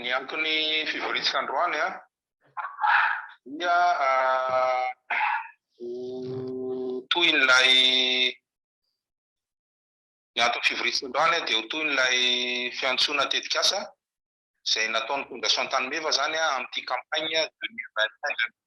Ny anton'ny fivorintsika androany a, dia ho tohin'ilay ny anton'ny fivorintsika androany a dia ho tohin'ilay fiantsoana tetikasa izay nataon'ny Fondation Tany Meva izany a amin'ity campagne 2021 2022.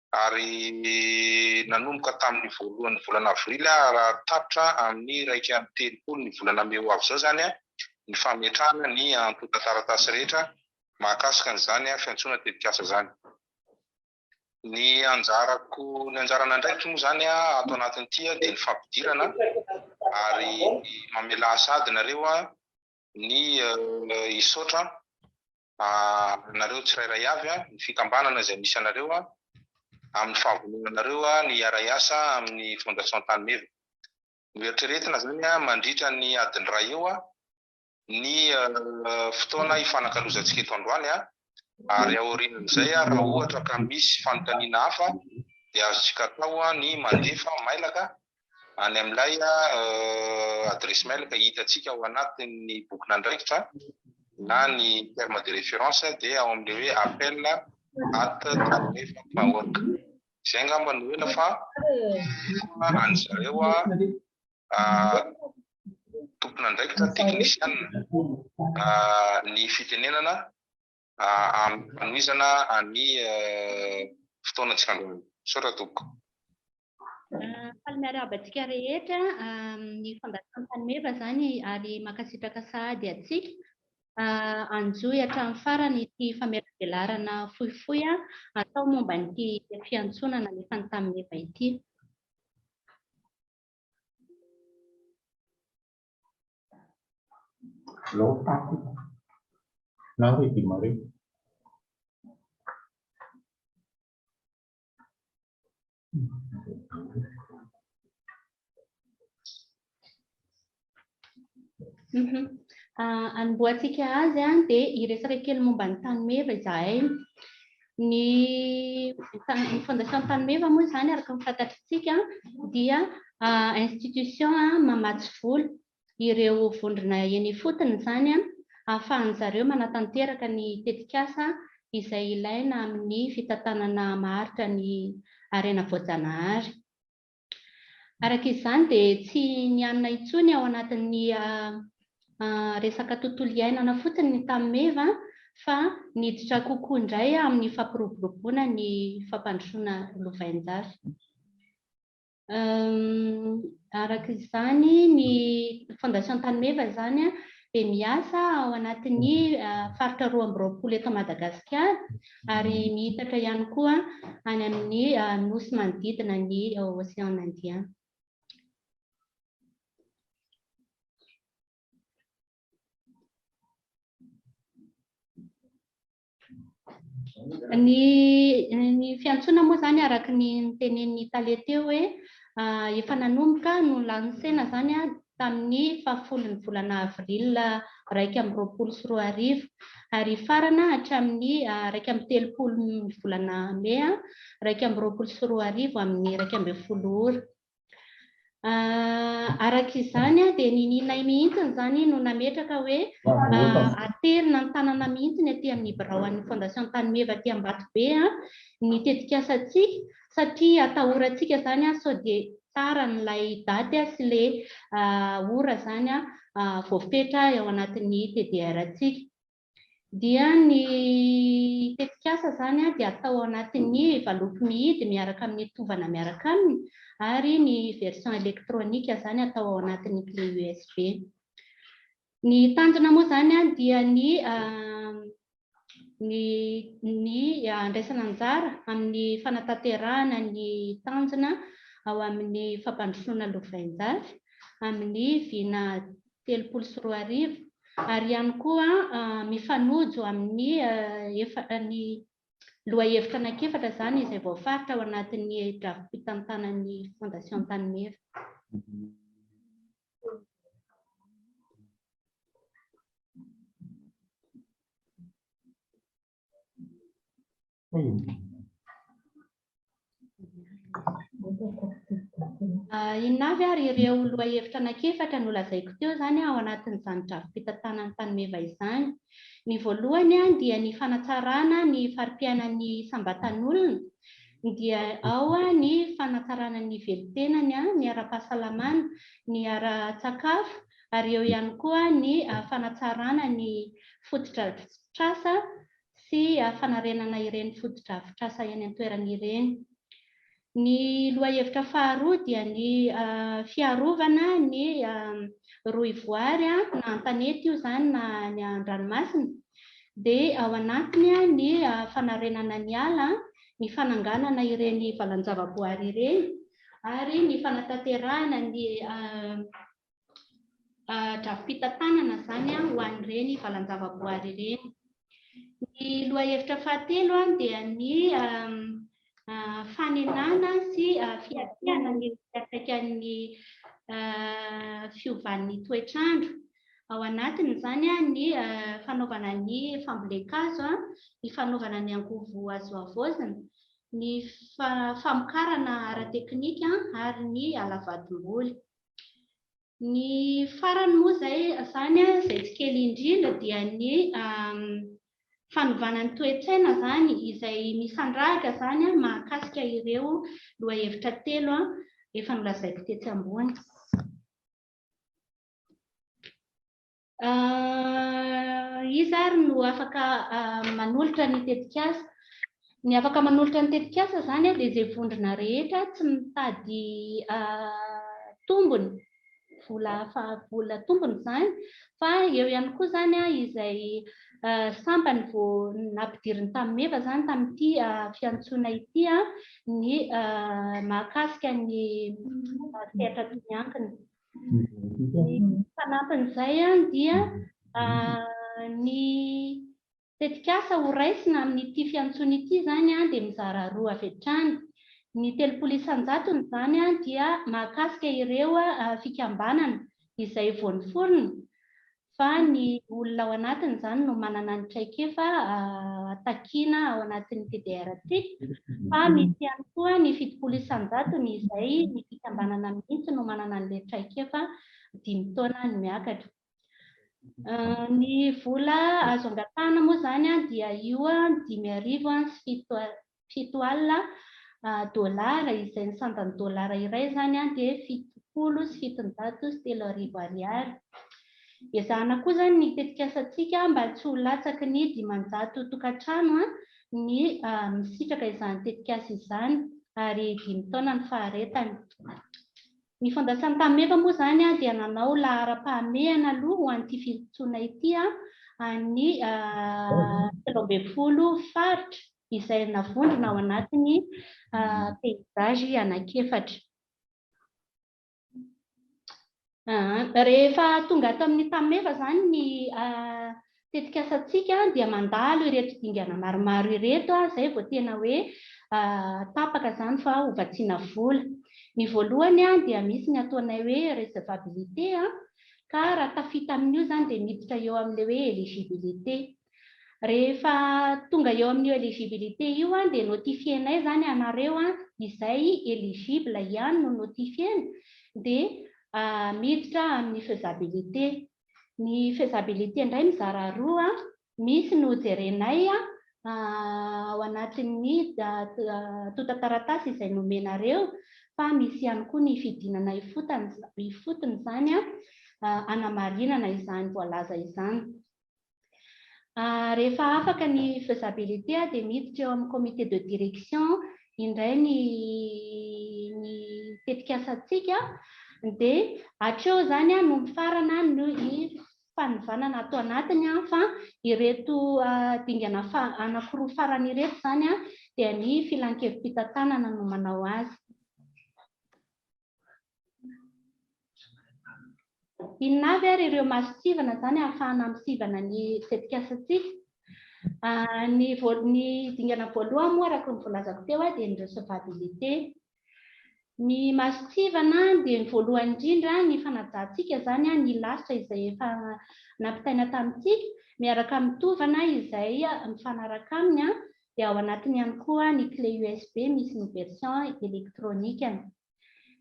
ary nanomboka tamin'ny voalohan'ny volana avrily aho raha tapitra amin'ny iraika amby telopolo ny volana mey ho avy izao izany ny fametrahana ny antontan-taratasy rehetra mahakasika an'izany fiantsoana tetikasa izany. Ny anjarako, ny anjaran'andraikitro moa izany ato anatin'ity dia ny fampidirana ary mamelà sady nareo ny hisaotra anareo tsirairay avy, ny fikambanana izay misy anareo, amin'ny fahavononanareo ny hiara-hiasa amin'ny Fondation Tany Meva. Noeritreretina izany mandritra ny adiny iray eo ny fotoana hifanakalozantsika eto androany, ary aorian'izay raha ohatra ka misy fanontaniana hafa dia azontsika atao ny mandefa mailaka any amin'ilay adresse mail ka hitantsika ao anatin'ny bokin'andraikitra na ny terme de référence dia ao amin'ilay hoe appel at talefa.org. Izay angamba no ela fa any zareo tompon'andraikitra teknisianina ny fitenenana hanomezana an'i fotoana tsy androany. Misaotra tompoko. Faly miarahaba antsika rehetra ny fandaharam-panomeva izany ary mankasitraka sahady antsika. Anjohy hatramin'ny farany ity famelabelarana fohifohy atao momba an'ity fiantsoana nalefa ny tamin'ny eva ity. Alou paty. Na hoe dimare. Mhm. Ah, anombohantsika azy an, dia hiresaka kely momba ny tany meva izahay. Ny Fondation'Antanimeva moa izany araka ny fantatritsika dia institution mamatsy vola ireo vondrona eny ifotony izany ahafahan'ny zareo manatanteraka ny tetikasa izay ilaina amin'ny fitantanana maharitra ny harena voajanahary. Araka izany dia tsy nianona intsony ao anatin'ny resaka tontolo iainana fotsiny ny tany meva fa niditra kokoa indray amin'ny fampiroboroboana ny fampandrosoana lovainjafy. Araka izany ny Fondation Tanimeva izany dia miasa ao anatin'ny faritra roa amby roapolo eto Madagasikara ary miitatra ihany koa any amin'ny nosy manodidina ny Ocean Indien. Ny ny fiantsoana moa izany araka ny notenenin'ny tale teo hoe efa nanomboka nolansena izany tamin'ny fahafolon'ny volana avril iraika amby roapolo sy roa arivo ary hifarana hatramin'ny iraika amby telopolon'ny volana mey iraika amby roapolo sy roa arivo amin'ny iraika ambin'ny folo ora. Araka izany dia nininay mihitsy izany no nametraka hoe aterina an-tanana mihitsy ny aty amin'ny biraon'ny Fondation Tanimeva aty Ambatobe ny tetikasantsika satria atahorantsika izany sao dia taran'ilay daty sy ilay ora izany voafetra ao anatin'ny TDR-ntsika. dia ny tetikasa izany dia atao ao anatin'ny valopy mihidy miaraka amin'ny tovana miaraka aminy ary ny version elektronika izany atao ao anatin'ny clé USB. Ny tanjona moa izany dia ny ny ny andraisana anjara amin'ny fanatanterahana ny tanjona ao amin'ny fampandrosoana lovainjafy amin'ny vina telopolo sy roa arivo ary ihany koa mifanojo amin'ny efa ny lohahevitra anankiefatra izany izay voafaritra ao anatin'ny drafi-pitantanan'ny Fondation Antanimeva. Inona avy ary ireo lohahevitra anankiefatra nolazaiko teo izany ao anatin'izany drafi-pitantanan'ny fanomeva izany? Ny voalohany dia ny fanatsarana ny fari-piainan'ny isam-batan'olona, dia ao ny fanatsarana ny velon-tenany, ny ara-pahasalamana, ny ara-tsakafo, ary eo ihany koa ny fanatsarana ny fotodrafitrasa sy fanarenana ireny fotodrafitrasa eny an-toerana ireny. Ny lohahevitra faharoa dia ny fiarovana ny rohivoary na an-tanety io izany na any an-dranomasina dia ao anatiny ny fanarenana ny ala, ny fananganana ireny valan-javaboary ireny ary ny fanatanterahana ny. drafi-pitantanana izany ho an'ireny valan-javaboary ireny. Ny lohahevitra fahatelo dia ny fanenana sy fiatrehana ny fiantraikan'ny fiovan'ny toetr'andro. Ao anatin'izany ny fanaovana ny fambolen-kazo, ny fanaovana ny angovo azo havaozina, ny famokarana ara-teknika ary ny halavadim-boly. Ny farany moa izay izany izay tsy kely indrindra dia ny fanovana ny toe-tsaina izany izay mifandrahaka izany mahakasika ireo lohahevitra telo efa nolazaiko tetsy ambony. Iza ary no afaka manolotra ny tetikasa? Ny afaka manolotra ny tetikasa izany dia izay vondrona rehetra tsy mitady tombony, vola vola tombony izany, fa eo ihany koa izany izay sampany vao nampidiriny tamin'ny meva izany tamin'ity fiantsoana ity ny mahakasika ny sehatra tokony hankina. Ny fanampin'izay dia ny tetikasa ho raisina amin'ity fiantsoana ity izany dia mizara roa avy hatrany. Ny telopolo isan-jatony izany dia mahakasika ireo fikambanana izay vao niforona fa ny olona ao anatiny izany no manana ny traikefa takiana ao anatin'ny PDRT, fa misy ihany koa ny fitopolo isan-jatony izay ny fikambanana mihitsy no manana an'ilay traikefa dimy taona no miakatra. Ny vola azo angatahana moa izany dia io dimy arivo sy fito fito alina dolara izay ny sandan'ny dolara iray izany dia fitopolo sy fitonjato sy telo arivo ariary. Ezahana koa izany ny tetikasantsika mba tsy ho latsaky ny dimanjato tokantrano ny misitraka izany tetikasa izany ary dimy taona ny faharetany. Ny Fondasion'i Tamefa moa izany dia nanao laharam-pahamehana aloha ho an'ity fiantsoana ity an'ny telo ambin'ny folo faritra izay navondrona ao anatin'ny peizazy anankiefatra. Rehefa tonga ato amin'ny Tameva izany ny tetikasantsika dia mandalo ireto dingana maromaro ireto izay vao tena hoe tapaka izany fa ho vatsiana vola. Ny voalohany dia misy ny ataonay hoe recevabilité ka raha tafita amin'io izany dia miditra eo amin'ilay hoe eligibilité. Rehefa tonga eo amin'io eligibilité io an, dia notifier-nay izany ianareo an, izay eligible ihany no notifier-na, dia miditra amin'ny faisabilité. Ny faisabilité indray mizara roa, misy no jerenay ao anatin'ny tontan-taratasy izay nomenareo, fa misy ihany koa ny fidinana ifotony izany an, hanamarinana izany voalaza izany. Rehefa afaka ny faisabilité dia miditra eo amin'ny comité de direction indray ny ny tetikasantsika dia hatreo izany no mifarana ny fanivànana ato anatiny fa ireto dingana anankiroa farany ireto izany dia ny filankevi-pitantanana no manao azy. Inona avy ary ireo masontsivana izany ahafahana misivana ny tetikasantsika? Ny ny dingana voalohany moa araka ny volazako teo dia ny recevabilité. Ny masontsivana dia ny voalohany indrindra ny fanajantsika izany ny lasitra izay efa nampitaina tamintsika miaraka amin'ny tovana izay mifanaraka aminy dia ao anatiny ihany koa ny clé USB misy ny version elektronikany.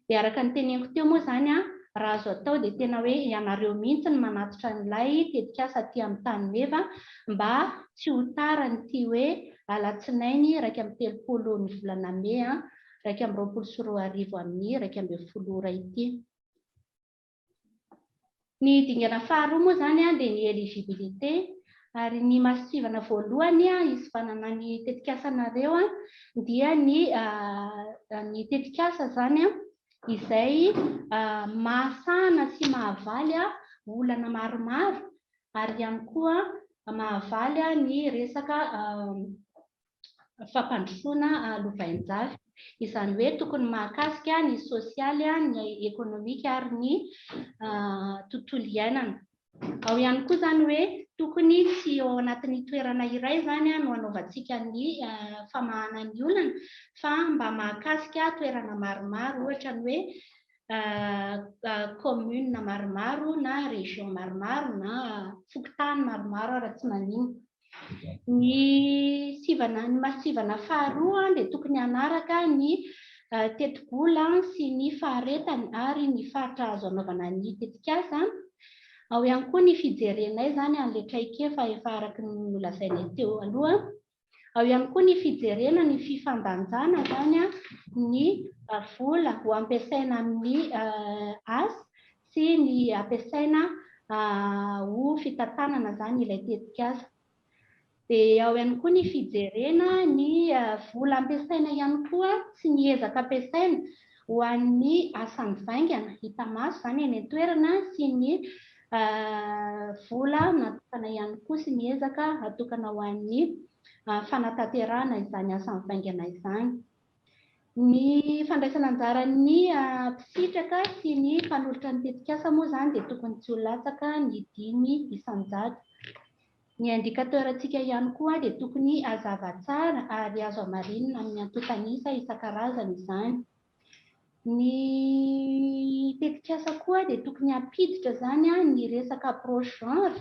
Dia araka ny teneniko teo moa izany an, raha azo atao dia tena hoe ianareo mihitsy no manatitra an'ilay tetikasa aty amin'ny tany meva mba tsy ho tara an'ity hoe alatsinainy iraika amby telopolo ny volana mey iraika amby roapolo sy roa arivo amin'ny iraika ambin'ny folo ora ity. Ny dingana faharoa moa izany dia ny eligibilité ary ny masontsivana voalohany hisivanana ny tetikasanareo dia ny ny tetikasa izany izay mahasahana sy mahavaly olana maromaro ary ihany koa mahavaly ny resaka fampandrosoana lovain-jafy. Izany hoe tokony mahakasika ny sosialy, ny ekonomika ary ny tontolo iainana. Ao ihany koa izany hoe tokony tsy ao anatin'ny toerana iray izany no anaovantsika ny famahana ny olana fa mba mahakasika toerana maromaro, ohatra ny hoe commune maromaro na région maromaro na fokontany maromaro raha tsy maninona. Ny sivana, ny masivana faharoa dia tokony hanaraka ny tetibola sy ny faharetany ary ny faritra azo anaovana ny tetikasa. Ao ihany koa ny fijerenay izany an'ilay traikefa efa araka ny nolazainay teo aloha. Ao ihany koa ny fijerena ny fifandanjana izany ny vola ho ampiasaina amin'ny asa sy ny ampiasaina ho fitantanana izany ilay tetikasa. Dia ao ihany koa ny fijerena ny vola ampiasaina ihany koa sy ny ezaka ampiasaina ho an'ny asa mivaingana, hita maso izany eny an-toerana sy ny vola natokana ihany koa sy ny ezaka atokana ho an'ny fanatanterahana izany asa mivaingana izany. Ny fandraisana anjaran'ny mpisitraka sy ny mpanolotra ny tetikasa moa izany dia tokony tsy ho latsaka ny dimy isan-jato. Ny indicateur-ntsika ihany koa dia tokony hazava tsara ary azo hamarinina amin'ny antontan'isa isan-karazany izany. Ny tetikasa koa dia tokony hampiditra izany ny resaka approche genre,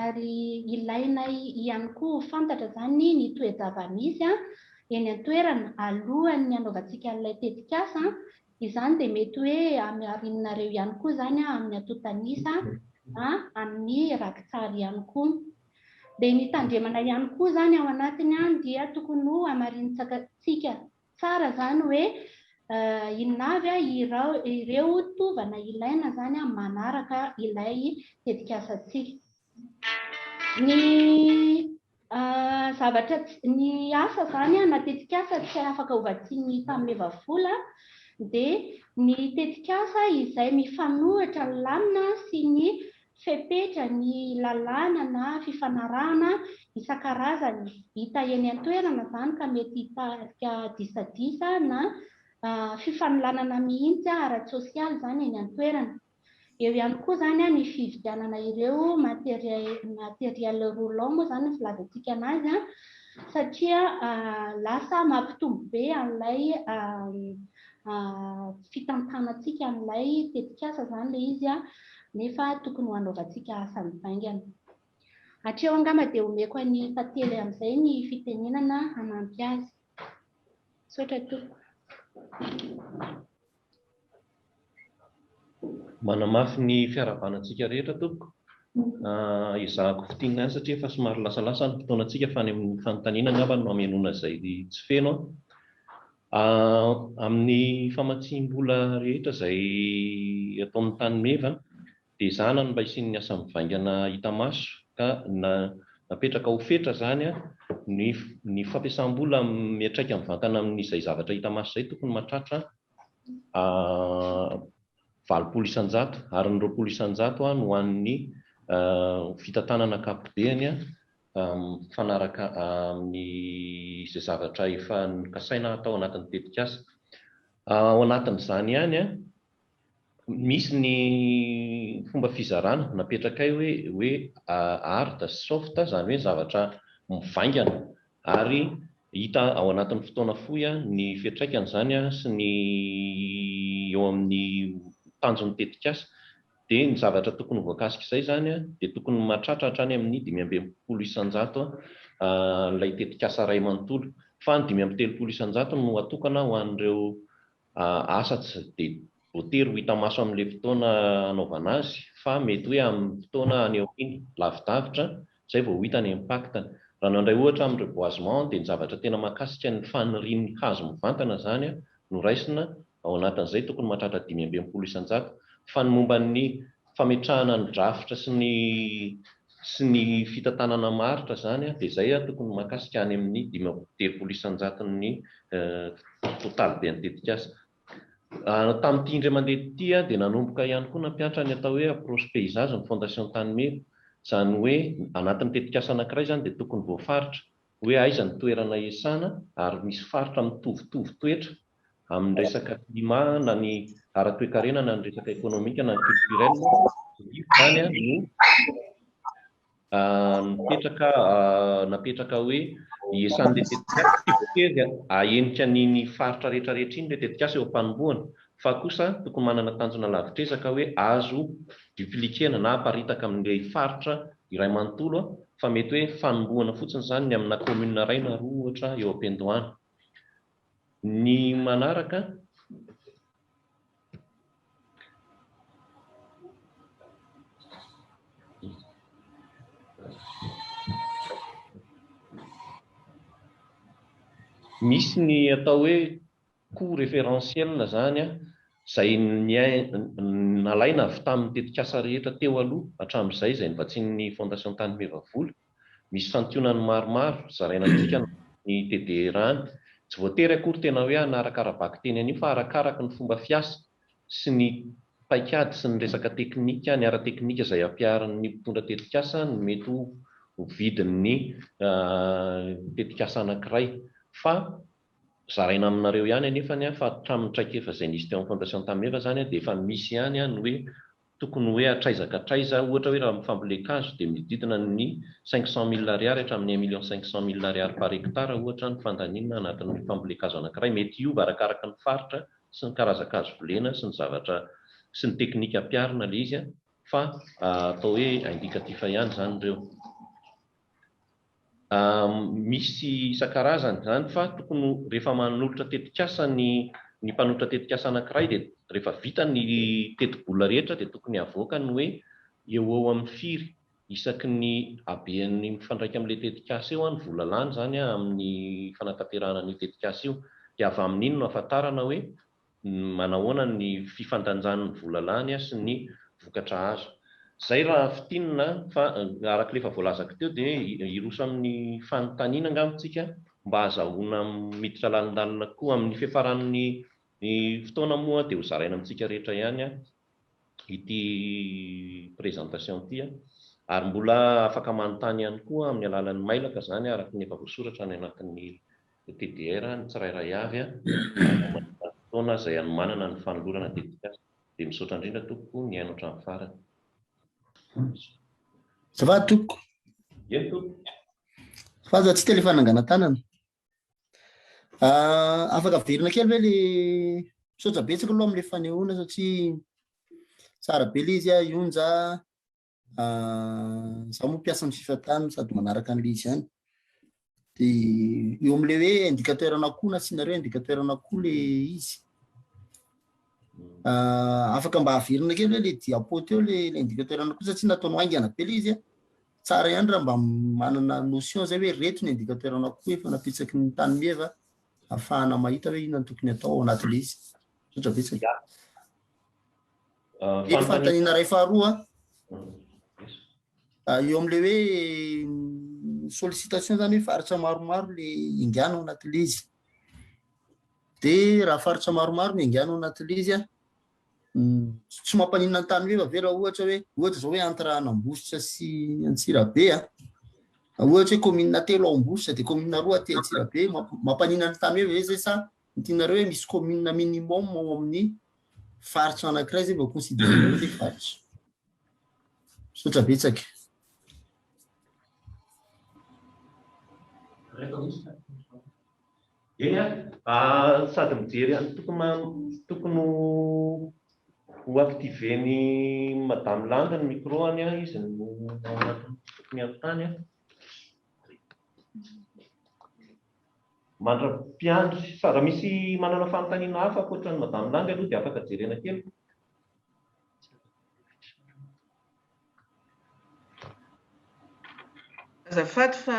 ary ilaina ihany koa ho fantatra izany ny toe-java-misy eny an-toerana alohan'ny hanaovantsika an'ilay tetikasa. Izany dia mety hoe hamiarinareo ihany koa izany amin'ny antontan'isa na amin'ny rakitsary ihany koa. Dia ny tandremana ihany koa izany ao anatiny dia tokony ho hamarinintsika Tsara zany hoe inona avy ireo tovana ilaina zany manaraka ilay tetikasantsika. Ny zavatra ny asa zany na tetikasa tsy afaka ho vatsian'ny mpameva vola dia ny tetikasa izay mifanohitra lamina sy ny fepetra ny lalàna na fifanarahana isan-karazany hita eny an-toerana izany ka mety hitarika disadisa na fifanolanana mihitsy ara-tsosialy izany eny an-toerana. Eo ihany koa izany ny fividianana ireo matériels roulants moa izany ny filazantsika an'azy satria lasa mampitombo be an'ilay fitantanantsika an'ilay tetikasa izany ilay izy. nefa tokony ho hanaovantsika asa mivaingana. Hatreo angamba dia omeko an'i Pately amin'izay ny fitenenana hanampy azy. Misaotra tompoko. Manamafy ny fiaravana antsika rehetra tompoko. Ezahako fintinina ihany satria efa somary lasalasa ny fotoanantsika fa any amin'ny fanontaniana angamba no hamenoana izay tsy feno an. Amin'ny famatsiam-bola rehetra izay ataon'ny tany meva dia ezahana ny mba hisian'ny asa mivaingana hita maso ka na napetraka ho fetra izany ny fampiasam-bola miantraika mivantana amin'izay zavatra hita maso izay tokony mahatratra valopolo isan-jato ary ny roapolo isan-jato ho an'ny fitantanana ankapobeny mifanaraka amin'ny izay zavatra efa nokasaina hatao anatin'ny tetikasa. Ao anatin'izany ihany, misy ny fomba fizarana napetrakay hoe hoe hard sy soft, izany hoe zavatra mivaingana ary hita ao anatin'ny fotoana fohy ny fiantraikan'izany sy ny eo amin'ny tanjon'ny tetikasa. dia ny zavatra tokony ho voakasik'izay izany dia tokony mahatratra hatrany amin'ny dimy amby enimpolo isan-jato an'ilay tetikasa iray manontolo, fa ny dimy amby telopolo isan-jato no atokana ho an'ireo asa tsy dia voatery ho hita maso amin'ilay fotoana hanaovana azy fa mety hoe amin'ny fotoana any aoriana, lavidavitra Izay vao ho hita ny impact-ny. Raha nandray ohatra amin'ny reboisement dia ny zavatra tena mahakasika ny fanirian'ny hazo mivantana izany no raisina, ao anatin'izay tokony mahatratra dimy amby enimpolo isan-jato, fa ny momba ny fametrahana ny drafitra sy ny sy ny fitantanana maharitra izany dia izay tokony mahakasika any amin'ny dimy amby telopolo isan-jaton'ny totaliben'ny tetikasa. Tamin'ity indray mandeha ity dia nanomboka ihany koa nampiantra ny atao hoe approche paysage ny Fondation Tanimena. Izany hoe anatin'ny tetikasa anankiray izany dia tokony voafaritra hoe aiza ny toerana iasana ary misy faritra mitovitovy toetra amin'ny resaka climat na ny ara-toekarena na ny resaka ekonomika na ny culturel, izany no. Mipetraka napetraka hoe iesan'ilay tetikasa tsy voatery ahenika an'iny faritra rehetra rehetra iny ilay tetikasa eo am-panombohana fa kosa tokony manana tanjona lavitr'ezaka hoe azo dupliquer-na na aparitaka amin'ilay faritra iray manontolo fa mety hoe fanombohana fotsiny izany ny amina commune iray na roa ohatra eo am-piandohana. Ny manaraka. Misy ny atao hoe coût référentiel izany izay nalaina avy tamin'ny tetikasa rehetra teo aloha hatramin'izay izay novatsian'ny Fondation Tany Meva Vola. Misy santionany maromaro zaraina amintsika ny ny TDRAn. Tsy voatery akory tena hoe hanaraka ara-bakiteny an'io fa arakaraka ny fomba fiasa sy ny paikady sy ny resaka teknika, ny ara-teknika izay ampiharin'ny mpitondra tetikasa no mety ho ho vidin'ny tetikasa anankiray. Fa zaraina aminareo ihany anefany fa hatramin'ny traikefa izay nisy teo amin'ny Fondation Tameva izany dia efa misy ihany ny hoe Tokony hoe hatraiza ka hatraiza, ohatra hoe raha amin'ny fambolen-kazo dia mididina ny cinq cent mille ariary hatramin'ny un million cinq cent mille ariary par hectare ohatra ny fandaniana anatin'ny fambolen-kazo anankiray, mety hiova arakaraka ny faritra sy ny karazan-kazo volena sy ny zavatra sy ny teknika ampiharina ilay izy fa atao hoe indikatifa ihany izany ireo. Misy isan-karazany izany fa tokony rehefa manolotra tetikasa ny ny mpanotra tetikasa anankiray dia rehefa vita ny tetibola rehetra dia tokony havoaka ny hoe eo ho eo amin'ny firy isaky ny habean'ny mifandraika amin'ilay tetikasa eo ny vola lany izany amin'ny fanatanterahana an'io tetikasa io dia avy amin'iny no ahafantarana hoe manahoana ny fifandanjany ny vola lany sy ny vokatra azo. Izay raha fintinina fa araka ilay efa voalazako teo dia hiroso amin'ny fanontaniana angamba isika mba hazahoana miditra lalindalina koa. Amin'ny fiafaran'ny fotoana moa dia hozaraina amintsika rehetra ihany ity présentation ity ary mbola afaka manontany ihany koa amin'ny alalan'ny mailaka izany araka ny efa voasoratra any anatin'ny ny TDR, ny tsirairay avy, na momba ny vanim-potoana izay hanomanana ny fanolorana dedicace, dia misaotra indrindra tompoko nihaino hatramin'ny farany. Ça va tompoko? Eny tompoko. Fa aza tsy te le fananganan-tanana. Ah, afaka averina kely ve le misaotra betsaka aloha amin'ilay fanehoana satria tsara be le izy a, Yonja. Zaho moa mpiasa amin'ny fifa tany sady manaraka an'ilay izy ihany. Dia eo amin'ilay hoe indicateur an'akoho na asianareo indicateur an'akoho ilay izy. Afaka mba averina kely hoe ilay diapo teo ilay indicateur an'akoho satsia nataonao haingana be ilay izy a. Tsara ihany raha mba manana notion izay hoe reto ny indicateur an'akoho efa napitsaky ny tany meva ahafahana mahita hoe inona no tokony atao ao anatin'ilay izy. Misaotra betsaka. Eny fanontaniana iray faharoa eo amin'ilay hoe sollicitation izany hoe faritra maromaro le engana ao anatin'ilay izy. Dia raha faritra maromaro ny engana ao anatin'ilay izy an, hmm, tsy mampaninona ny tany meva ve raha ohatra hoe ohatra izao hoe entre Anambositra sy Antsirabe an, ohatra hoe commune telo ao Ambositra dia commune roa aty Antsirabe, mampaninona ny tany meva ve zay sa Ny tianareo hoe misy commune minimum ao amin'ny faritra anankiray zay vao considérer hoe faritra. Misaotra betsaka. Eny an, sady mijery an, tokony ho activer ny madame Landy ny micro-ny an, izy no ao anatin'ny foko miampitany an. mandra-piandry sa raha misy manana fanontaniana hafa ankoatra an'i Madame Lang aloha dia afaka jerena kely. Azafady fa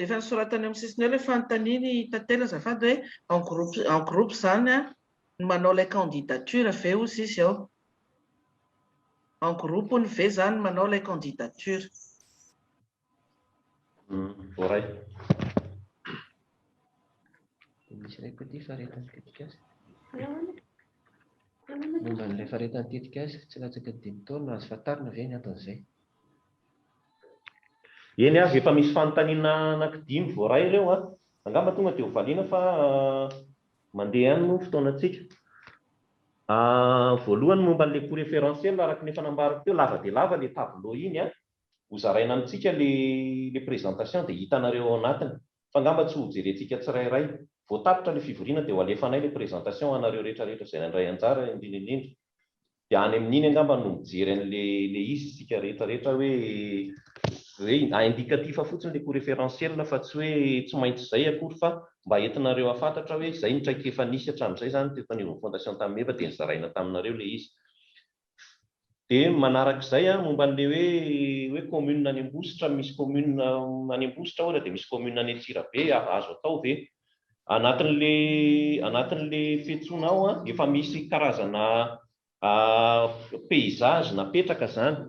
efa nosoratana eo amin'ny sisiny eo ilay fanontaniana i Tantely azafady hoe en groupe en groupe izany an, ny manao ilay candidature ve hozy izy ao? En groupe hono ve izany manao ilay candidature? Voaray. Misy iray koa ity faharetan'ny tetikasa. Momba an'ilay faharetan'ny tetikasa, tsy latsaka dimy taona, azo fantarina ve ny anton'izay? Eny aza efa misy fanontaniana anankidimy voaray ireo an! Angamba tonga dia ho valiana fa mandeha ihany moa ny fotoanantsika. Voalohany momba an'ilay coût référentiel, araka ny efa nambarako teo, lava dia lava ilay tableau iny an! ho zaraina amintsika le le présentation dia hitanareo ao anatiny fa ngamba tsy ho jerentsika tsirairay. Vao tapitra le fivoriana dia ho alefanay le présentation ho anareo rehetra rehetra izay nandray anjara indrindra indrindra. Dia any amin'iny angamba no mijery an'le le izy isika rehetra rehetra hoe hoe a indicatif fotsiny le coût référentiel fa tsy hoe tsy maintsy izay akory fa mba entinareo hafantatra hoe izay ny traikefa nisy hatramin'izay izany teto anivon'ny fondation tamin'ny MEVA dia nozaraina taminareo le izy. Dia manaraka izay an, momba an'ilay hoe hoe commune any Ambositra, misy commune any Ambositra ohatra dia misy commune any Antsirabe, azo atao ve? Anatin'ilay anatin'ilay fiantsoana ao an, efa misy karazana paysage napetraka izany,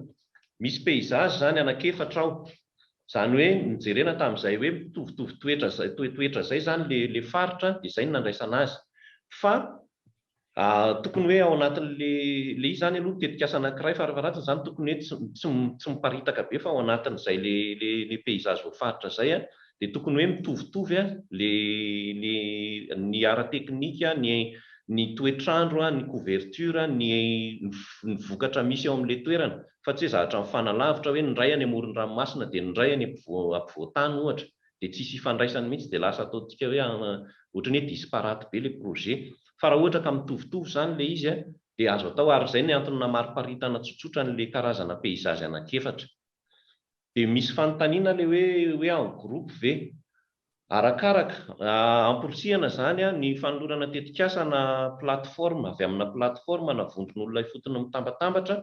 misy paysage izany anankiefatra ao, izany hoe nojerena tamin'izay hoe mitovitovy toetra izay toetra izay izany ilay ilay faritra dia izay no nandraisana azy fa Ahh tokony hoe ao anatin'ny le le izy zany aloha tetikasa anankiray farafaharatiny zany tokony hoe tsy tsy tsy miparitaka be fa ao anatin'izay le le le paysage voafaritra zay a de tokony hoe mitovitovy a le le ny ara teknika ny ny toetr'andro a ny couverture ny ny vokatra misy eo am'le toerana fa tsy hoe zahatra mifanalavitra hoe ny iray any amoron'ny ranomasina de ny iray any ampovoan-tany ohatra dia tsy hisy hifandraisany mihitsy dia lasa ataontsika hoe ohatran'ny hoe disparate be ilay projet. Fa raha ohatra ka mitovitovy izany ilay izy dia azo atao ary izay no antony namariparitana tsotsotra an'ilay karazana paysages anankiefatra. Dia misy fanontaniana ilay hoe hoe en groupe ve? Arakaraka, amporisihana izany ny fanolorana tetikasa na plateforme avy amina plateforme na vondron'olona ifotony mitambatambatra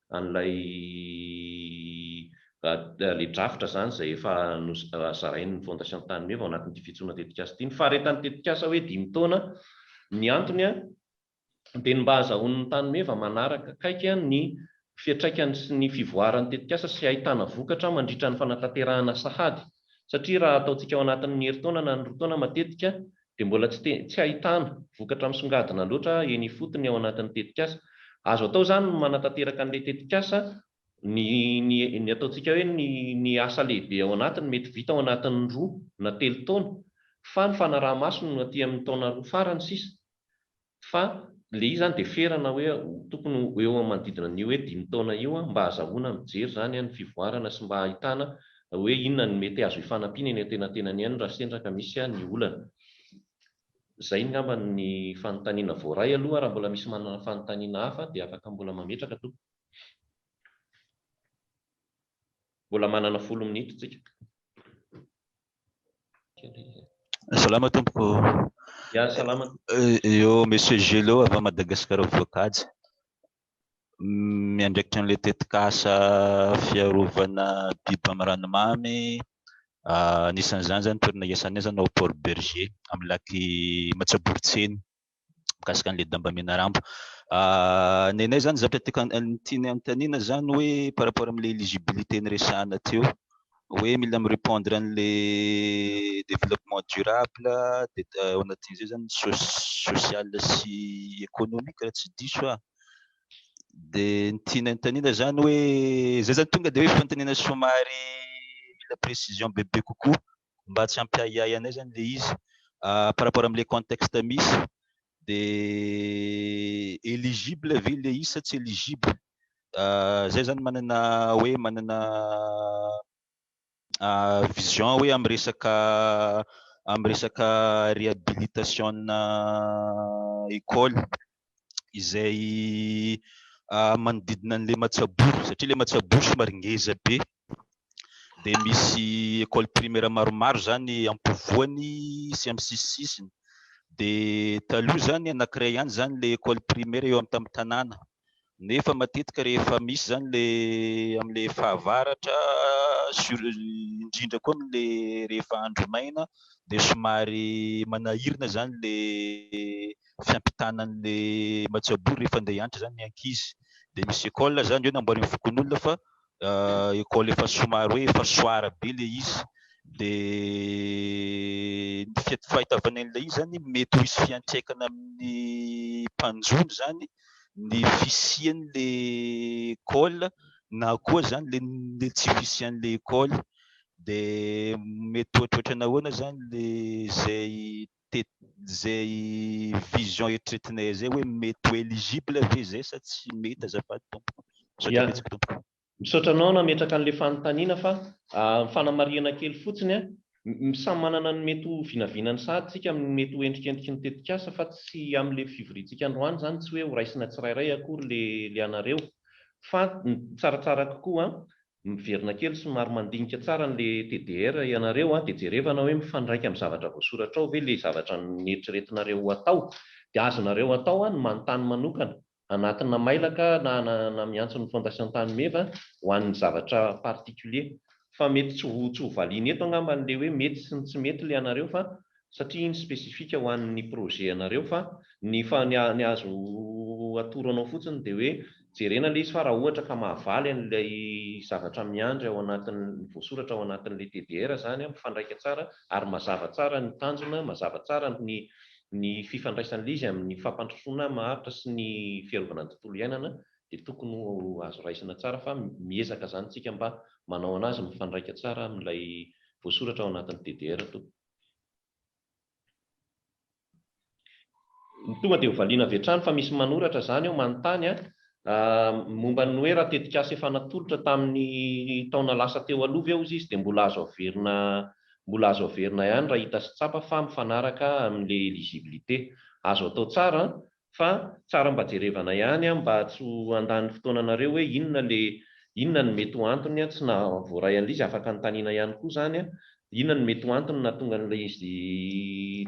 an'ilay ilay drafitra izany izay efa zarain'ny Fondation Tany Meva ao anatin'ity fijoroana tetikasa ity. Ny faharetan'ny tetikasa hoe dimy taona, ny antony dia ny mba hahazahoan'ny Tany Meva manaraka akaiky ny fiantraikany sy ny fivoaran'ny tetikasa sy hahitana vokatra mandritra ny fanatanterahana sahady satria raha ataontsika ao anatin'ny herintaona na ny roa taona matetika dia mbola tsy te, tsy ahitana vokatra misongadina loatra eny ifotony ao anatin'ny tetikasa. Azo atao izany ny manatanteraka an'ilay tetikasa, ny, ny, ny ataontsika hoe ny, ny asa lehibe ao anatiny mety vita ao anatin'ny roa na telo taona, fa ny fanaraha-maso no aty amin'ny taona roa farany sisa. Fa le izy zany de ferana hoe tokony ho eo amin'ny manodidina ny hoe dimy taona io mba hazahoana mijery zany an ny fivoarana sy mba ahitana hoe inona no mety azo ifanampiana eny antenatenany any raha sendra ka misy an ny olana. Zay ngamba ny fanontaniana voaray aloha, raha mbola misy manana fanontaniana hafa dia afaka mbola mametraka tompoko. Mbola manana folo minitra tsika. Salama tompoko. Ya salama. Eo monsieur Gelo avy Madagascar Voakajy. Miandraikitra an'ilay tetikasa fiarovana biby amin'ny ranomamy anisan'izany izany toerana iasana izany ao Port Bergé amin'ny lac Matsaborotsiny. mikasika an'ilay damba menaramba. Ny anay izany zavatra tiako ny tiany hanontaniana izany hoe par rapport amin'ilay éligibilité niresahana teo, hoe mila mi-repondre an'ilay développement durable dia ao anatin'izay izany ny social sy économique raha tsy diso aho. Dia ny tiany hanontaniana izany hoe, izay izany tonga dia hoe fanontaniana somary mila précision bebe kokoa mba tsy hampiahiahy anay zany le izy par rapport amle contexte misy de eligible ve le izy sa tsy eligible zay zany manana hoe manana vision hoe am resaka am resaka rehabilitation na ecole izay manodidina an'ilay Matsaboro satria ilay Matsaboro somary ngeza be dia misy école primaire maromaro izany ampovoany sy amin'ny sisisisiny dia taloha izany anankiray ihany izany ilay école primaire eo amin'ny tamin'ny tanàna nefa matetika rehefa misy izany ilay amin'ilay fahavaratra sur indrindra koa amin'ilay rehefa andro maina dia somary manahirana izany ilay fiampitana an'ilay matsabory rehefa handeha hiantra izany ny ankizy dia misy école izany eo namboarin'ny fokonolona fa école efa somary hoe efa soara be ilay izy dia ny fiat- fahitavana an'ilay izy zany mety ho hisy fiantraikany amin'ny mpanjono zany ny fisian'le école na koa zany le le tsy fisian'le école dia mety ohatrohatrany ahoana zany le zay dia izay vision eritreretinay izay hoe mety ho eligible ve izay sa tsy mety azafady tompoko. Misaotra betsaka tompoko. Misaotra anao nametraka an'ilay fanontaniana fa fanamarihana kely fotsiny an, samy manana ny mety ho vinavinany sahady tsika amin'ny mety ho endrikendriky ny tetikasa fa tsy amin'ilay fivoriantsika androany izany tsy hoe ho raisina tsirairay akory ilay anareo fa ny tsaratsara kokoa Miverina kely somary mandinika tsara an'le TDR ianareo a, dia jerevana hoe mifandraika amin'ny zavatra voasoratra ao ve le zavatra neritreretinareo ho atao. Dia azonareo atao ny manontany manokana, anatina mailaka na na miantso ny Fondation Tany Meva ho an'ny zavatra particulier. Fa mety tsy ho tsy ho valiana eto angamba an'le hoe mety sy ny tsy mety le anareo fa satria iny spécifique ho an' ny projet anareo fa ny fa ny ny azo atoro anao fotsiny dia hoe jerena ilay izy fa raha ohatra ka mahavaly an' ilay zavatra miandry ao anatin' ny voasoratra ao anatin' ilay TDR izany mifandraika tsara ary mazava tsara ny tanjona, mazava tsara ny ny fifandraisan' ilay izy amin' ny fampandrosoana maharitra sy ny fiarovana ny tontolo iainana dia tokony ho azo raisina tsara fa miezaka izany isika mba manao an' azy mifandraika tsara amin' ilay voasoratra ao anatin' ny TDR tompoko. Ny tonga dia ho valiana avy hatrany fa misy manoratra izany eo manontany momba ny hoe raha tetikasa efa natolotra tamin'ny taona lasa teo aloha ve ozy izy dia mbola azo averina mbola azo averina ihany raha hita sy tsapa fa mifanaraka amin'ilay eligibilité. Azo atao tsara fa tsara mba jerevana ihany an mba tsy ho handany fotoana anareo hoe inona le inona no mety ho antony an tsy naha voaray an'ilay izy afaka anontaniana ihany koa zany an inona no mety ho antony nahatonga an'ilay izy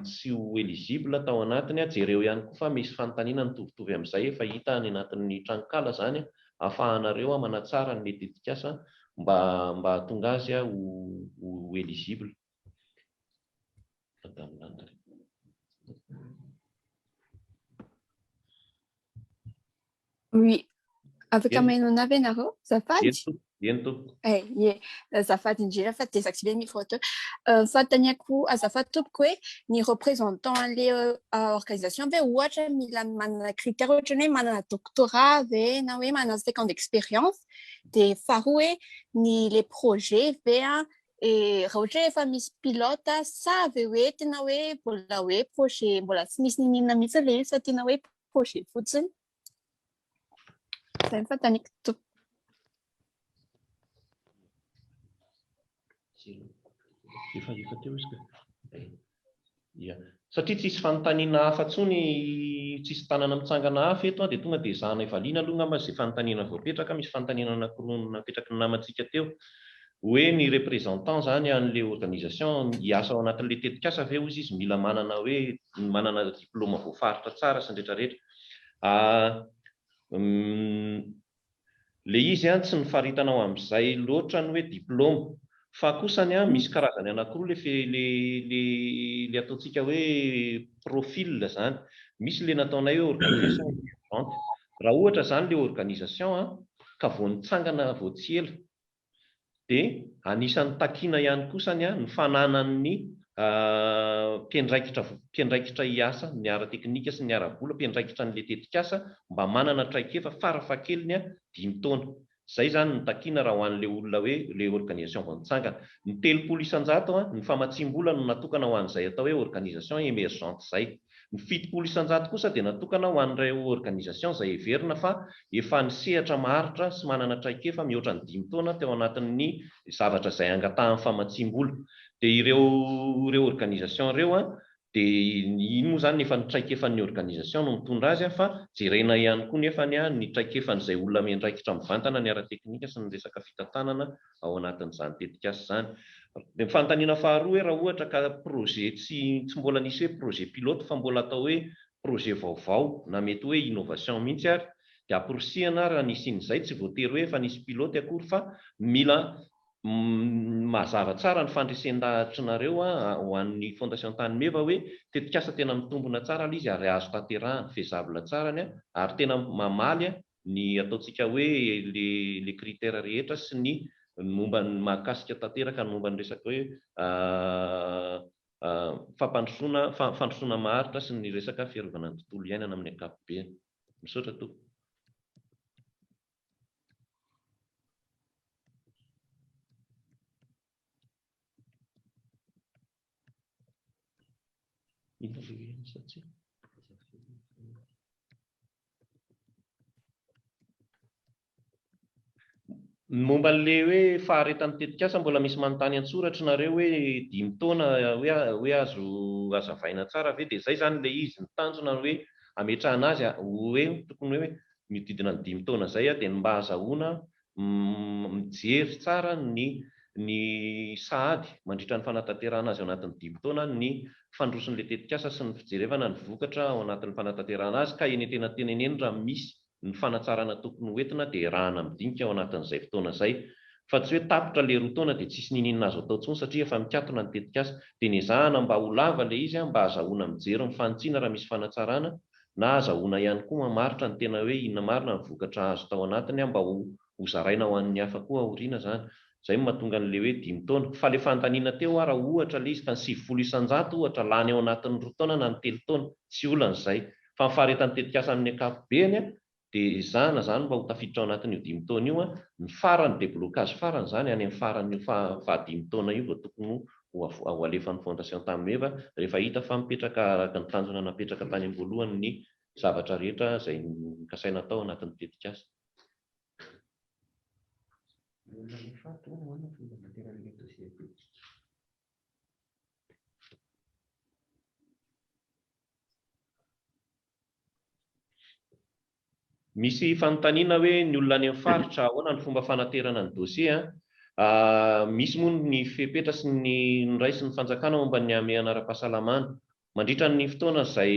tsy ho eligible tao anatiny an jereo ihany koa fa misy fanontaniana mitovitovy amin'izay efa hita any anatin'ny tranonkala zany an afahanareo an manatsara ny mety tetikasa mba mba hahatonga azy an ho eligible. Oui. Afaka mahainona avy ianareo? Zafady? Eny tompoko. Eh, ye. Azafady indrindra fa désactiver micro teo. Euh, Fanontaniako azafady tompoko hoe ny représentant an'le euh, organisation ve ohatra mila manana critère ohatra ny hoe manana doctorat ve na hoe manana cinq ans d'expérience. Dia faharoa hoe ny le projet ve a Eh, raha ohatra efa misy pilote sa ve hoe tena hoe mbola hoe projet mbola tsy misy ninina mihitsy ilay izy fa tena hoe projet fotsiny zay fantaniko to efa efa teo izy ka Ia. Satria tsisy fanontaniana hafa tsony, tsisy tanana mitsangana hafa eto an, dia tonga dia ezahanay valiana aloha ngamba izay fanontaniana voapetraka, misy fanontaniana anakiroa napetraky ny namantsika teo, hoe ny représentant izany an'ilay organisation hiasa ao anatin'ilay tetikasa ve hozy izy mila manana hoe manana diploma voafaritra tsara sy ny retraretra, a, m, Le izy an tsy nifaritana ho amzay loatra ny hoe diploma fa kosa ny an misy karazany anakiroa le fe le le le ataontsika hoe profil zany misy le nataonay hoe organisation emergente raha ohatra zany le organisation an ka vao nitsangana vao tsy ela dia anisan'ny takiana ihany koa sany ny fananan'ny mpiandraikitra mpiandraikitra hiasa ny ara-teknika sy ny ara-bola mpiandraikitra an'ilay tetikasa mba manana traikefa farafahakeliny dimy taona. Izay izany no takiana raha ho an'ilay olona hoe ilay organisation vao nitsangana. Ny telopolo isan-jato ny famatsiam-bola no natokana ho an'izay atao hoe organisation emergente izay. Ny fitopolo isan-jato kosa dia natokana ho an'ireo organisation izay heverina fa efa nisehatra maharitra sy manana traikefa mihoatra ny dimy taona teo anatin'ny zavatra izay angatahan'ny famatsiam-bola. Dia ireo ireo organisation ireo dia iny moa izany efa ny traikefan'ny organisation no mitondra azy fa jerena ihany koa nefany ny traikefan'izay olona miandraikitra mivantana ny ara-teknika sy ny resaka fitantanana ao anatin'izany tetikasa izany. Ny fanontaniana faharoa hoe raha ohatra ka projet tsy tsy mbola nisy hoe projet pilote fa mbola atao hoe projet vaovao na mety hoe innovation mihitsy ary dia amporisihana raha ny hisian'izay, tsy voatery hoe efa nisy pilote akory fa mila mazava tsara ny fandresen-dahatrinareo ho an'ny Fondation Tany Meva hoe tetikasa tena mitombina tsara ilay izy ary azo tanterahana, faisable tsara ny ary tena mamaly ny ataontsika hoe le le critère rehetra sy ny momba ny mahakasika tanteraka ny momba ny resaka hoe fampandrosoana fandrosoana maharitra sy ny resaka fiarovana ny tontolo iainana amin'ny ankapobeny. Misaotra tompoko. Ny momba an'ilay hoe faharetan'ny tetikasa mbola misy manontany an-tsoratry nareo hoe dimy taona hoe hoe azo hazavaina tsara ve dia izay izany ilay izy ny tanjona hoe ametrahana azy hoe tokony hoe mihodidina ny dimy taona izay dia ny mba hazahoana Umm mijery tsara ny ny sahady mandritra ny fanatanterahana azy ao anatin'ny dimy taona ny fandrosoan'ilay tetikasa sy ny fijerevana ny vokatra ao anatin'ny fanatanterahana azy ka henentena tena eny eny raha misy ny fanatsarana tokony ho entina dia erahana midinika ao anatin'izay fotoana izay fa tsy hoe tapitra ilay roa taona dia tsisy niniana azo atao tsony satria efa mikatona ny tetikasa dia nezahana mba ho lava ilay izy mba azahoana mijery ny fanitsiana raha misy fanatsarana na azahoana ihany koa mamaritra ny tena hoe inona marina ny vokatra azo tao anatiny an mba ho ho zaraina ho an'ny hafa koa aoriana izany. Izay no mahatonga an'ilay hoe dimy taona. Fa ilay fandaniana teo aho raha ohatra ilay izy tany sivifolo isan-jato ohatra lany ao anatin'ny roa taona na ny telo taona, tsy olana izay. Fa ny faharetan'ny tetikasa amin'ny ankapobeny an, dia ezahana izany mba ho tafiditra ao anatin'io dimy taona io an, ny farany deblocage farany izany any amin'ny faran'io faha faha dimy taona io vao tokony ho ho ho alefan'ny fondation tamin'ny meva rehefa hita fa mipetraka araka ny tanjona napetraka tany am-boalohany ny zavatra rehetra izay nokasaina atao anatin'ny tetikasa. Misy fanontaniana hoe ny olona any amin'ny faritra ahoana ny fomba fanaterana ny dosie? Misy moa ny fepetra sy ny noraisin'ny fanjakana momba ny hamehana ara-pahasalamana. Mandritra ny fotoana izay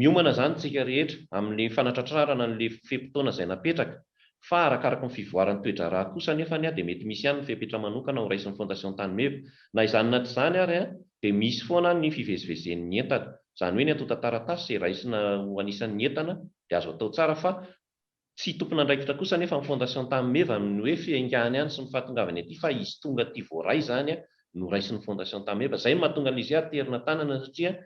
miomana izany isika rehetra amin'ny fanatratrarana an'ilay fe-potoana izay napetraka fa arakaraky ny fivoaran'ny toe-draharaha kosa anefa dia mety misy ihany ny fepetra manokana horaisin'ny Fondation Tany Meva. Na izany na tsy izany ary dia misy foana ny fivezivezen'ny entana. Izany hoe ny antontan-taratasy izay raisina ho anisan'ny entana dia azo atao tsara fa tsy tompon'andraikitra kosa anefa ny Fondation Tany Meva amin'ny hoe fiaingàny any sy ny fahatongavany aty fa izy tonga aty voaray izany no raisin'ny Fondation Tany Meva izay no mahatonga an'lzy aterina tanana satria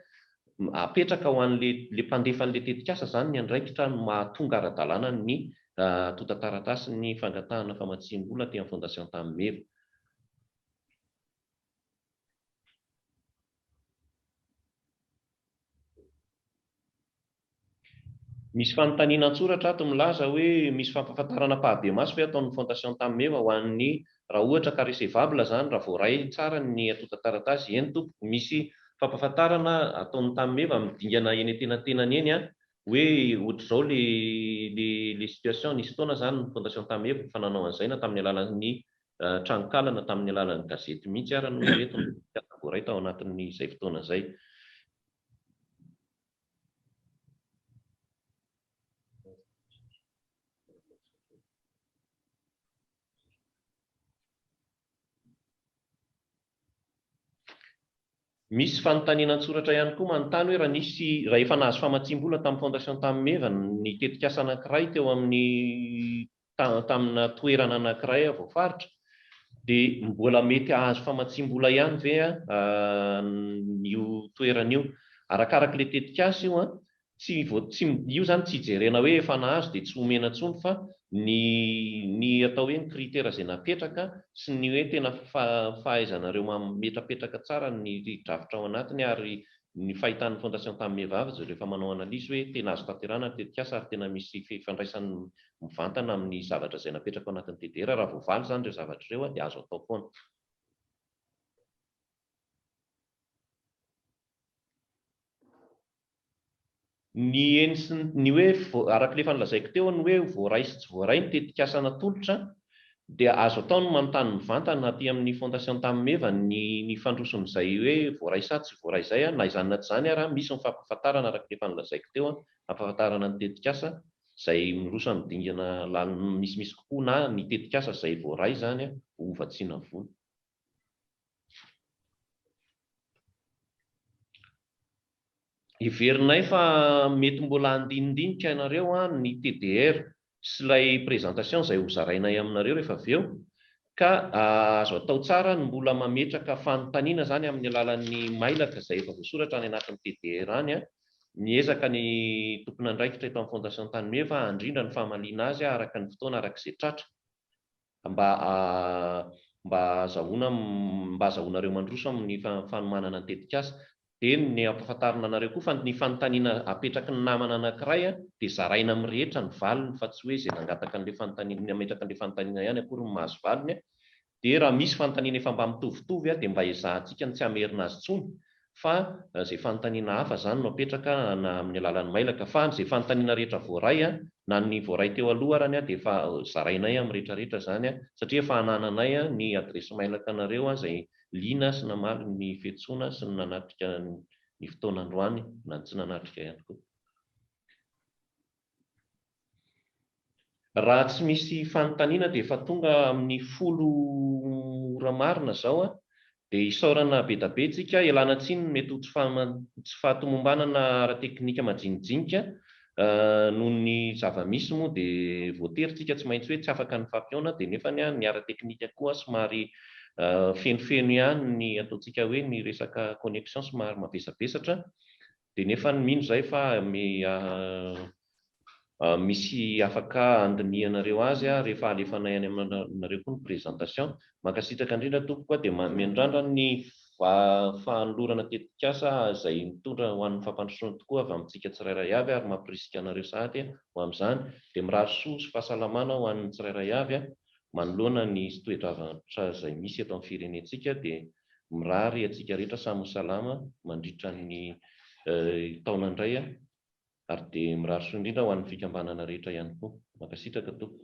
apetraka ho an'le le mpandefa an'le tetikasa izany ny andraikitra no mahatonga ara-dalàna ny antontan-taratasin'ny fangatahana famatsiam-bola aty amin'ny Fondation Tany Meva. Misy fanontaniana an-tsoratra ato milaza hoe misy fampahafantarana par des masses ve ataon'ny Fondation Tammeva ho an'ny raha ohatra ka recevable izany raha voaray tsara ny antontan-taratasy? Eny tompoko, misy fampahafantarana ataon'ny Tammeva amin'ny dingana eny an-tenatenany eny an, hoe ohatr'izao ilay ilay situation, nisy fotoana izany ny Fondation Tammeva efa nanao an'izay na tamin'ny alalan'ny Tranonkala-na tamin'ny alalan'ny gazety mihitsy ara no ireto no voaray tao anatin'izay fotoana izay. Misy fanontaniana an-tsoratra ihany koa manontany hoe raha nisy, raha efa nahazo famatsiam-bola tamin'ny Fondation Tamin'ny Meva ny tetikasa anankiray teo amin'ny tamina toerana anankiray aho voafaritra dia mbola mety hahazo famatsiam-bola ihany ve an io toerana io? Arakaraka ilay tetikasa io an, tsy tsy io izany tsy ijerena hoe efa nahazo dia tsy omena intsony fa ny ny atao hoe ny critère izay napetraka sy ny hoe tena fahaizanareo mametrapetraka tsara ny drafitra ao anatiny ary ny fahitan'ny fondation tamin'ny vehivavy izay rehefa manao analyse hoe tena azo tanterahina ny tetikasa ary tena misy fifandraisany mivantana amin'ny zavatra izay napetraka ao anatin'ny DDR, raha voavaly izany ireo zavatra ireo dia azo atao foana. Ny eny sy ny hoe, araka ilay efa nolazaiko teo, ny hoe voaray sy tsy voaray ny tetikasa natolotra dia azo atao ny manontany mivantana aty amin'ny Fondation Tamimeva ny ny fandrosoan'izay hoe voaray sa tsy voaray izay, na izany na tsy izany ary misy ny fampahafantarana araka ilay efa nolazaiko teo, hampahafantarana ny tetikasa izay miroso amin'ny dingana lalin'ny misimisy kokoa na ny tetikasa izay voaray izany ho hovatsiana vola. Heverinay fa mety mbola handinidinika ianareo ny TDR sy ilay présentation izay hozarainay aminareo rehefa avy eo, Ka azo atao tsara ny mbola mametraka fanontaniana izany amin'ny alalan'ny mailaka izay efa voasoratra any anatin'ny TDR any. Miezaka ny tompon'andraikitra eto amin'ny Fondation Tany Meva handrindra ny famaliana azy araka ny fotoana araka izay tratra mba mba azahoana mba azahoanareo mandroso amin'ny fanomanana ny tetikasa. Eny, ny ampafantarina anareo koa fa ny fanontaniana apetraky ny namana anankiray dia zaraina amin'ny rehetra ny valiny fa tsy hoe izay nangataka an'ilay fanontaniana, nametraka an'ilay fanontaniana ihany akory no mahazo valiny, dia raha misy fanontaniana efa mba mitovitovy dia mba ezahantsika ny tsy hamerina azy intsony fa izay fanontaniana hafa izany no apetraka na amin'ny alalan'ny mailaka fa izay fanontaniana rehetra voaray na ny voaray teo aloha arany dia efa zarainay amin'ny rehetrarehetra izany satria efa anananay ny adiresy mailaka anareo izay liana sy namaly ny fiantsoana sy ny nanatrika ny fotoana androany na ny tsy nanatrika ihany koa. Raha tsy misy fanontaniana dia efa tonga amin'ny folo ora marina izao dia isaorana bedabe tsika, ialana tsiny ny mety ho tsy fahatomombanana ara-teknika majinijinika Noho ny zava-misy moa dia voatery tsika tsy maintsy hoe tsy afaka ny fampihaona dia nefany an ny ara-teknika koa somary fenofeno ihany ny ataontsika hoe ny resaka connexion somary mavesabesatra dia nefany mino izay fa misy afaka handinihanareo azy rehefa alefanay any aminareo koa ny presentation Mankasitraka indrindra tompoko a, dia miandrandra ny fahanolorana tetikasa izay mitondra ho an'ny fampandrosoana tokoa avy amintsika tsirairay avy ary mampirisika anareo sahady ho amin'izany, dia mirary soa sy fahasalamana ho an'ny tsirairay avy a, manoloana ny toe-javatra izay misy eto amin'ny firenentsika dia mirary antsika rehetra samy ho salama mandritra ny taona indray a, ary dia mirary soa indrindra ho an'ny fikambanana rehetra ihany koa. Mankasitraka tompoko.